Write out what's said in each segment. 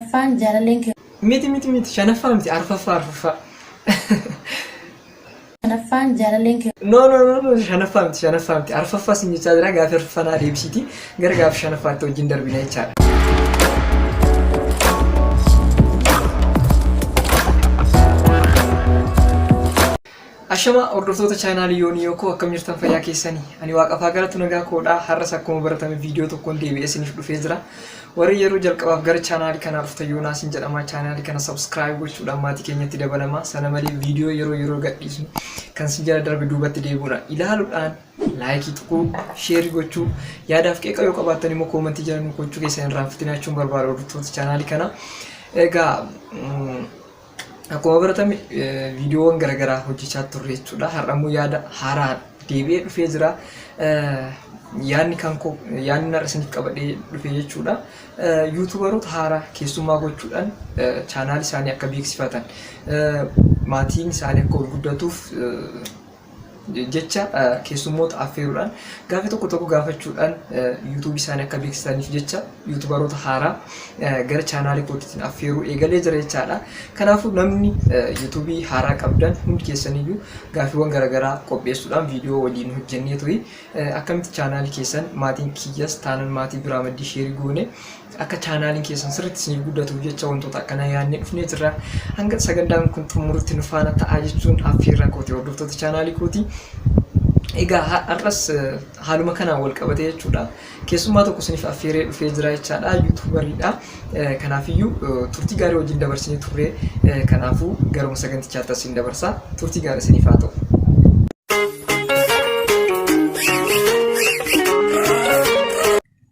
Arfaffaan jaalalleen kee Miti miti miti shanaffaa miti arfaffaa arfaffaa. shanaffaan jaalalleen kee No no no no shanaffaa miti shanaffaa miti arfaffaa sin jechaa jira gaafi arfaffaa naa deebisiiti gara gaafi shanaffaatti wajjin darbina jechaadha. Ashama hordoftoota chaanaalii Yoonii Yookoo akkam jirtan fayyaa keessanii? Ani waaqaaf haa galatu nagaa koodha. Har'as akkuma baratame viidiyoo tokkoon deebi'ee isiniif dhufee jira. Warri yeroo jalqabaaf gara chaanaalii kanaa dhuftan Yoonaas hin jedhama. Chaanaalii kana subscribe gochuudhaan maatii keenyatti dabalama. Sana malee viidiyoo yeroo yeroo gadhiisnu kan sin jala darbe duubatti deebi'uudhaan ilaaluudhaan laayikii tuquu, sheerii gochuu, yaadaaf qeeqa yoo qabaattan immoo koomantii jala nu gochuu keessan irraa fitinachuun barbaada hordoftoota chaanaalii kana. Egaa Akkuma baratame viidiyoowwan garaagaraa hojjechaa turre jechuudha. Har'a immoo yaada haaraa deebi'ee dhufee jira. Yaadni kan koo yaadni har'a isiniif qabadhee dhufe jechuudha. Yuutuubaroota haaraa keessummaa gochuudhaan chaanaal isaanii akka beeksifatan maatiin isaanii akka ol guddatuuf jecha keessummoota affeeruudhaan gaaffii tokko tokko gaafachuudhaan yuutuubii isaanii akka beeksisaniif jecha yuutubaroota haaraa gara chaanaalii kootiitiin affeeruu eegalee jira jechaadha. Kanaafuu namni yuutuubii haaraa qabdan hundi keessaniyyuu gaaffiiwwan garaagaraa qopheessuudhaan viidiyoo waliin hojjennee tuyi akkamitti chaanaalii keessan maatiin kiyyas taanan maatii biraa maddii sheerii goone Akka chaanaaliin keessan sirriitti isiniif guddatuuf jecha wantoota akkanaa yaadnee dhufnee jirra. Hanga sagantaan kun xumurutti nu faana ta'aa jechuun affeerraa kooti hordoftoota chaanaalii kooti. Egaa har'as haaluma kanaan wal qabatee jechuudha. Keessummaa tokko isiniif affeeree dhufee jira jechaadha. Yuutuubariidha. Kanaafiyyuu turtii gaarii wajjin dabarsinee turre. Kanaafuu garuma sagantichaatti as isin dabarsa. Turtii gaarii isiniif haa ta'u.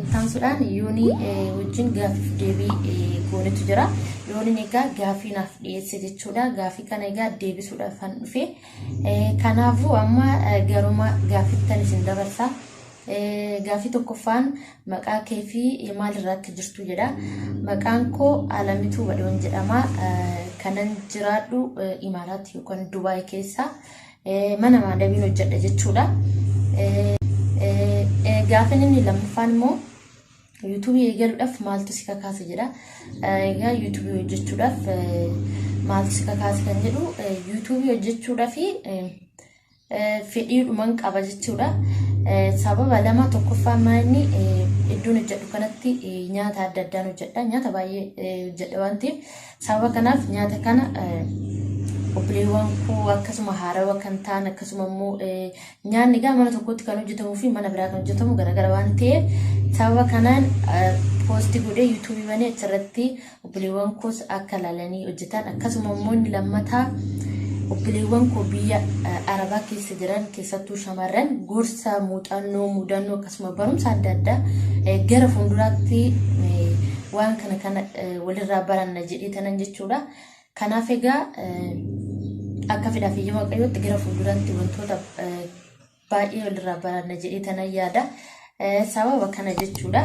Ittaansuudhaan Yoonii wajjin gaaffiif deebii goonetu jira. Yooniin egaa gaaffii naaf dhiyeesse jechuudha. Gaaffii kana egaa deebisuudhaaf kan dhufe. Kanaafuu amma garuma gaaffiittan isin dabarsa. Gaaffii tokkoffaan maqaa kee fi maalirraa akka jirtu jedha. Maqaan koo Alamituu Badhoon jedhama. Kanan jiraadhu Imaaraat yookaan Dubaay keessa. Mana maadabiin hojjedha jechuudha. Gaafin inni lammaffaan immoo yuutuubii eegaluudhaaf maaltu si kakaase jedha. Egaa yuutuubii hojjechuudhaaf maaltu si kakaase kan jedhu yuutuubii hojjechuudhaaf fedhiidhuman qaba jechuudha. Sababa lama tokkoffaa maa inni iddoon hojjedhu kanatti nyaata adda addaan hojjedha. Nyaata baay'ee hojjedha waan ta'eef Sababa kanaaf nyaata kana obboleewwan koo akkasuma haarawa kan ta'an akkasuma immoo nyaanni egaa mana tokkotti kan hojjetamuu fi mana biraa kan hojjetamu garaagara waan ta'eef sababa kanaan poosti godhee yuutuubii banee achirratti obboleewwan koos akka laalanii hojjetan akkasuma immoo inni lammataa obboleewwan koo biyya arabaa keessa jiran keessattuu shamarran gorsa muuxannoo mudannoo akkasuma barumsa adda addaa eh, gara fuulduraatti eh, waan kana kana eh, walirraa baranna jedhee tanan jechuudha. Kanaaf egaa eh, akka fedhaa fi ija waaqayyootti gara fuulduraatti wantoota eh, baay'ee walirraa baranna jedhee tanan yaada. Eh, Sababa kana jechuudha.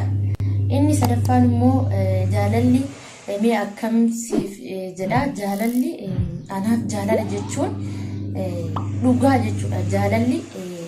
Inni sadaffaan immoo eh, jaalalli eh, mee akkam siif eh, jedha jaalalli eh, anaaf jaalala jechuun eh, dhugaa jechuudha. Jaalalli eh,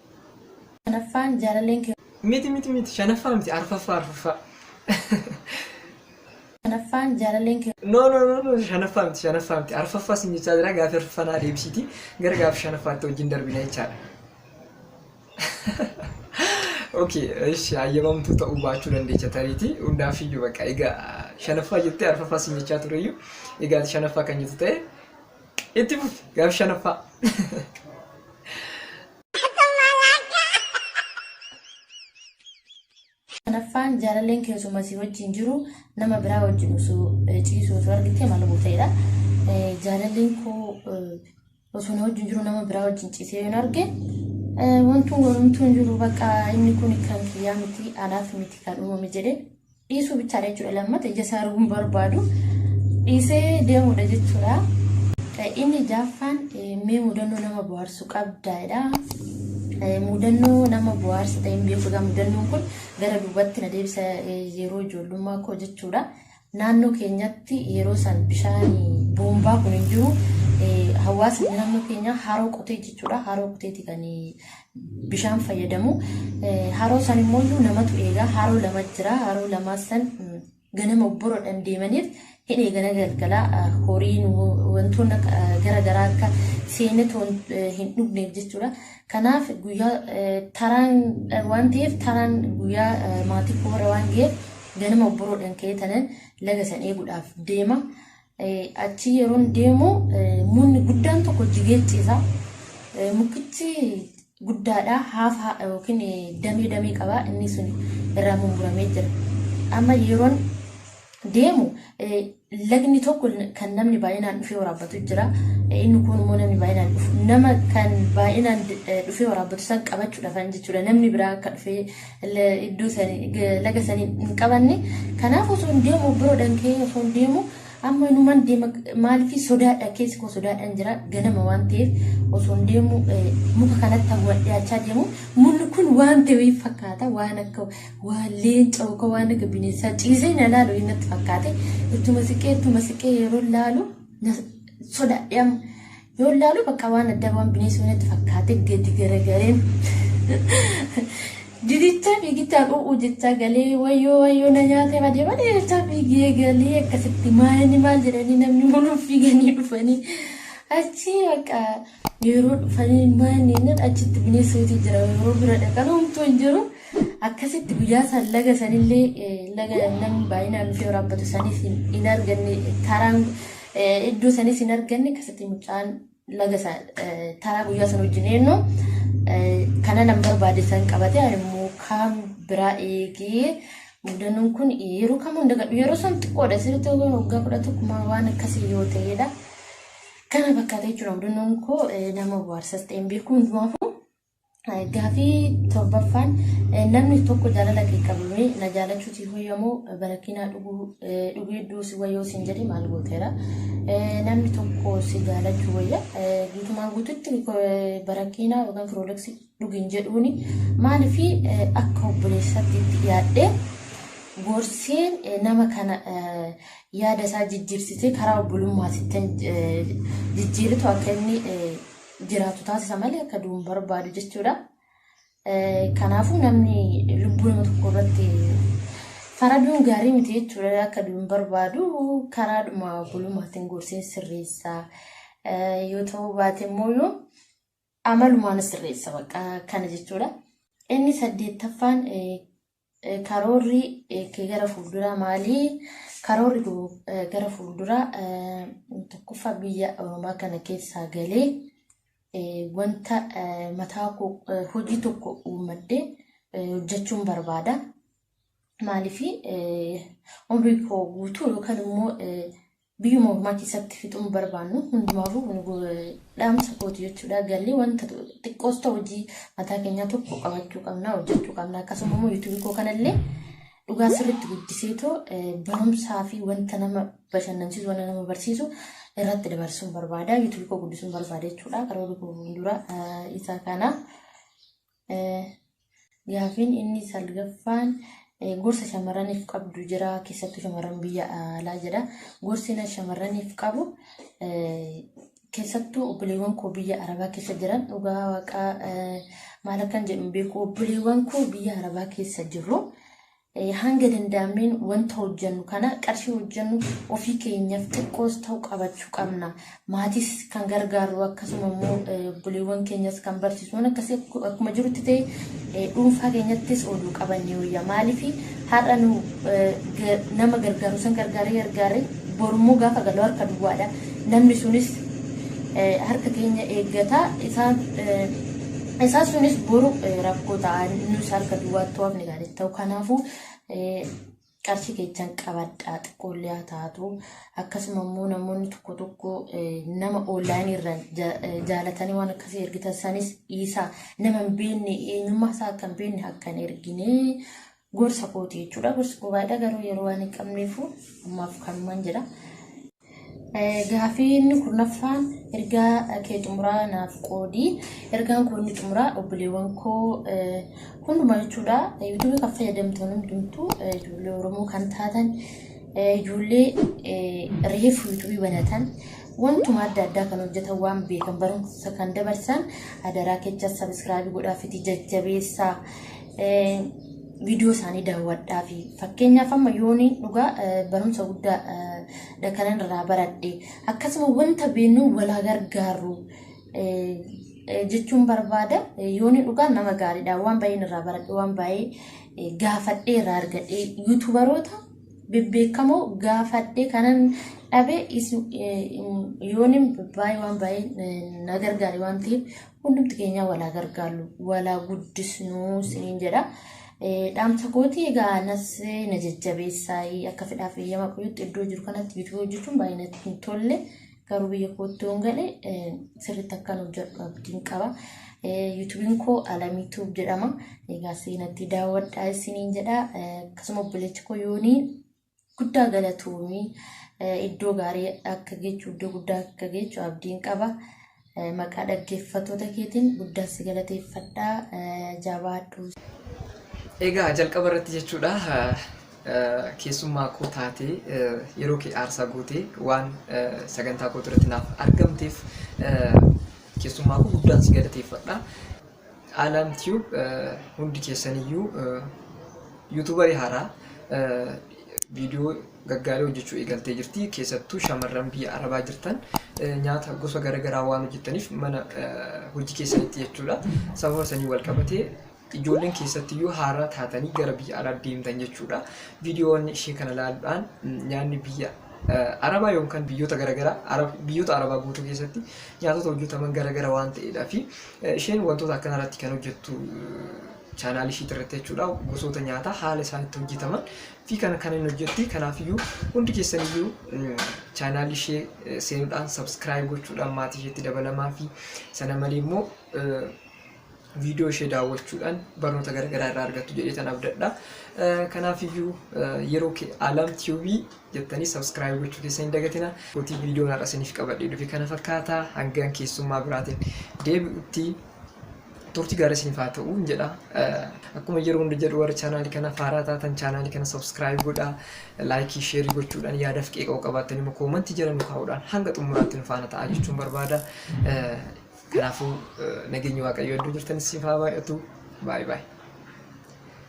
Shanaffaan jaalalleen kee. Miti miti miti shanaffaa miti arfaffaa arfaffaa. Shanaffaan jaalalleen kee. No no no no shanaffaa miti shanaffaa miti arfaffaa sin jechaa jira gaaffii arfaffaa naa deebisiiti gara gaaffii shanaffaatti wajjin darbina jechaadha. Okay, ishi hayyamamtuu ta'uu baachuu dandeecha tariiti hundaaf iyyuu bakka egaa shanaffaa jettee arfaffaa sin jechaa tureyyuu egaa ati shanaffaa kan jettu ta'e Itti fufi gaaf shanaffaa. Shanaffaan jaalalleen keessuma si wajjin jiru nama biraa wajjin osoo eh, ciisuu osoo argite maal gooteedha. Eh, Jaalalleen koo eh, osoo na wajjin jiru nama biraa wajjin ciisee yoon arge eh, wantuun warumtuun jiru bakka inni kun kan kiyyaa miti anaaf miti kan uumame jedhee dhiisuu bichaadha jechuudha lammata ija isaa arguu hin barbaadu dhiisee deemuudha jechuudha. Inni jaaffaan mee mudannoo nama bohaarsu qabdaadha. Mudannoo nama bohaarsa ta'e hin beeku egaa mudannoon kun gara duubatti na deebisa yeroo ijoollummaa koo jechuudha. Naannoo keenyatti yeroo san bishaan boombaa kun hin jiru. Hawaasni naannoo keenyaa haroo qotee jechuudha. Haroo qoteeti kan bishaan fayyadamu. Haroo san immoo iyyuu namatu eega. Haroo lama jira. Haroo lamaa san ganama obboroodhaan deemaniif hin eegana galgala horiin wantoonni gara garaa akka seeneet hin dhugneef jechuudha. Kanaaf guyyaa taraan waan ta'eef taraan guyyaa maatii koo irra waan ga'eef ganama obboroodhaan ka'ee tanan laga san eeguudhaaf deema. Achii yeroon deemu mukni guddaan tokko jigee ciisa. Mukkichi guddaadha haafa yookiin damee damee qaba inni sun irraa mummuramee jira. Amma yeroon deemu lagni tokko kan namni baay'inaan dhufee waraabbatu jira. Inni kun immoo namni baay'inaan dhufu nama kan baay'inaan dhufee waraabbatu san qabachuudhaaf jechuudha. Namni biraa akka dhufee iddoo sani laga sani hin qabanne kanaaf osoo hin deemu biro dhankee osoo hin deemu amma numan deema maaliif sodaadha keessi koo sodaadhaan jira ganama waan ta'eef osoo hin deemu muka kanatti hawwa dhiyaachaa deemu munni kun waan ta'e fakkaata waan akka waan leenca yookaan waan akka bineensaa ciisee na laalu inni natti fakkaate ittuma siqee ittuma siqee yeroo laalu sodaadhe amma Yoon laalu bakka waan addaa waan bineensuu natti fakkaate gadi garagareen. Didichaa fiigichaan u'uu jechaa galee wayyoo wayyoo na nyaatee badee badee jechaa fiigee galee akkasitti maayanii maal jedhanii namni hunduu fiiganii dhufanii achi bakka yeroo dhufanii maayanii nan achitti bineensootii jira yeroo bira dhaqan homtuu hin jiru akkasitti guyyaa san laga sanillee laga namni baay'inaan dhufee waraabbatu sanis hin arganne karaan Iddoo sanis hin arganne akkasitti mucaan laga isaa taraa guyyaa sana wajjin eenyu kana nan barbaade san qabate immoo kaan biraa eegee mudannoon kun yeroo kamuu hin dagadhu yeroo san xiqqoodha sirriitti yoo waggaa kudha tokkumaa waan akkasii yoo ta'edha. Kana fakkaata jechuudha mudannoon koo nama bohaarsas ta'een beeku hundumaafuu Gaafii torbaffaan namni tokko jaalala kee qabame na jaalachuu si hoyyamoo barakinaa dhugee duusi wayoo sin jedhe maal gooteera. Namni tokko si jaalachuu wayya guutumaan guututti barakinaa yookaan firooleksii dhugin jedhuuni maaliif akka obboleessaatti itti yaadhee gorsee nama kana yaada isaa jijjiirsisee karaa obbolummaa sittan jijjiiritu akka inni jiraatu taasisa malee akka du'u hin barbaadu jechuudha. Kanaafuu namni lubbuu nama tokko irratti faraduun gaarii miti jechuudha akka du'u hin barbaadu karaadhuma bulumaatiin gorsee sirreessa yoo ta'uu baate immoo yoo amalumaan sirreessa bakka kana jechuudha. Inni saddeettaffaan Karoorri kee gara fuulduraa maali? Karoorri koo gara fuulduraa tokkoffaa biyya Oromaa kana keessaa galee wanta mataa koo hojii tokko uummadhee hojjechuun barbaada. Maaliif umrii koo guutuu yookaan immoo Biyyuma ormaatti isatti fixuu hin barbaannu. Hundumaafuu kun dhaamsa kooti jechuudha. Galli wanta xiqqoos ta'u hojii mataa keenyaa tokko qabachuu qabna, hojjechuu qabna. Akkasuma immoo yuutuubii koo kanallee dhugaa sirriitti guddiseetoo barumsaa fi wanta nama bashannansiisu, wanta nama barsiisu irratti dabarsuun barbaada. Yuutuubii koo guddisuun barbaada jechuudha. Karoora koo fuuldura isa kana. Gaafiin inni salgaffaan gorsa shamarraniif qabdu jira keessattuu shamarran biyya alaa jedha. Gorsi inni shamarraniif qabu keessattuu obboleewwan koo biyya arabaa keessa jiran dhugaa waaqaa maal akkan jedhu beeku obboleewwan koo biyya arabaa keessa jiru. Hanga danda'ameen wanta hojjennu kana qarshii hojjennu ofii keenyaaf xiqqoos ta'u qabachuu qabna. Maatiis kan gargaarru akkasuma immoo obboleewwan keenyas kan barsiisnu akkasii akkuma jirutti ta'e dhuunfaa keenyattis ooluu qabannee wayya. Maaliif har'a nu nama gargaaru san gargaaree gargaaree borummoo gaafa galu harka duwwaadha. Namni sunis harka keenya eeggata. Isaan sunis boru rakkoo ta'a. Nus harka duwwaatti hafne. gaarii ta'u kanaafuu qarshii keessan qabadhaa xiqqoollee haa taatu akkasuma immoo namoonni tokko tokko nama oonlaayinii irraan jaalatanii waan akkasii ergitan sanis dhiisaa nama hin beekne eenyummaa isaa akka hin beekne akka hin ergine gorsa kooti jechuudha gorsa koo baay'ee garuu yeroo waan hin qabneefu ammaaf kanumaan jedha. Gaafii inni kurnaffaan ergaa kee xumuraa naaf qoodi. Ergaan koo inni xumuraa obboleewwan koo hundumaa jechuudha. Yuutuubii kan fayyadamtoonni hundumtuu ijoollee Oromoo kan taatan ijoollee reefu yuutuubii banatan wantuma adda addaa kan hojjetan waan beekan barumsa kan dabarsan adaraa kecha sabiskiraabii godhaa fitii jajjabeessaa. viidiyoo isaanii daawwadhaa fi fakkeenyaaf amma yoonii dhugaa barumsa guddaa dha kanan irraa baradhe akkasuma wanta beeknu walaa gargaarru jechuun barbaada yoonii dhugaa nama gaariidha waan baay'een irraa baradhe waan baay'ee gaafadhee irraa argadhe yuutubaroota bebbeekamoo gaafadhee kanan dhabe yooniin baay'ee waan baay'ee na gargaare waan ta'eef Hundumti keenyaa walaa gargaarru walaa guddisnuu siniin jedha. Dhaamsa kooti egaa anas na jajjabeessaa akka fedhaaf eeyyama qoyutti iddoo jiru kanatti bituu hojjechuun baay'ee natti hin tolle. Garuu biyya kootti yoon gale sirriitti akkan hojjedhu abdiin qaba. Yuutuubiin koo Alamii Tuub jedhama. Egaa seenatti daawwadhaa isiniin jedha. Akkasuma obboleechi koo yoonii Guddaa galatoomi iddoo gaarii akka geechu iddoo guddaa akka geechu abdiin qaba. Maqaa dhaggeeffattoota keetiin guddaan si galateeffadha jabaadhu. Egaa jalqaba irratti jechuudha keessummaa koo taatee yeroo kee aarsaa gootee waan sagantaa koo irratti naaf argamteef keessummaa koo guddaan si galateeffadha. Alam tube hundi keessaniyyuu yuutuubarii haaraa viidiyoo gaggaarii hojjechuu eegaltee jirti. Keessattuu shamarran biyya Arabaa jirtan nyaata gosa garaagaraa waan hojjettaniif mana hojii keessanitti jechuudha. Sababa sanii wal qabatee ijoolleen keessattiyyuu haaraa taatanii gara biyya alaa deemtan jechuudha. Viidiyoon ishee kana ilaaluudhaan nyaanni biyya Arabaa yookaan biyyoota garaagaraa biyyoota Arabaa guutuu keessatti nyaatota hojjetaman garaagara waan ta'eedhaa fi Isheen wantoota akkanaa irratti kan hojjettu chaanaal ishiit irratti jechuudha. Gosoota nyaataa haala isaan itti hojjetaman fi kana kan hin hojjetti. Kanaafiyyuu hundi keessaniyyuu chaanaal ishee seenuudhaan sabskiraayib gochuudhaan maatii isheetti dabalamaa fi sana malee immoo viidiyoo ishee daawwachuudhaan barnoota garaagaraa irraa argattu jedhee tan abdadha. Kanaafiyyuu yeroo alam tiibii jettanii subscribe gochuu keessa hin dagatina. Gotii viidiyoon har'a isiniif qabadhee dhufe kana fakkaata hangaan keessummaa biraatiin deebi'utti turtii gaarii isiniif haa ta'u hin jedha. Akkuma yeroo hunda jedhu warri chaanaalii kana faaraa taatan chaanaalii kana subscribe godha. Laayikii sheerii gochuudhaan yaadaaf qeeqa'uu qabaattan immoo koomantii jala nu kaa'uudhaan hanga xumuraatti nu faana ta'a jechuun barbaada. Kanaafuu nageenyi waaqayyoo iddoo jirtanis siif haa baay'atu. Baay'ee baay'ee.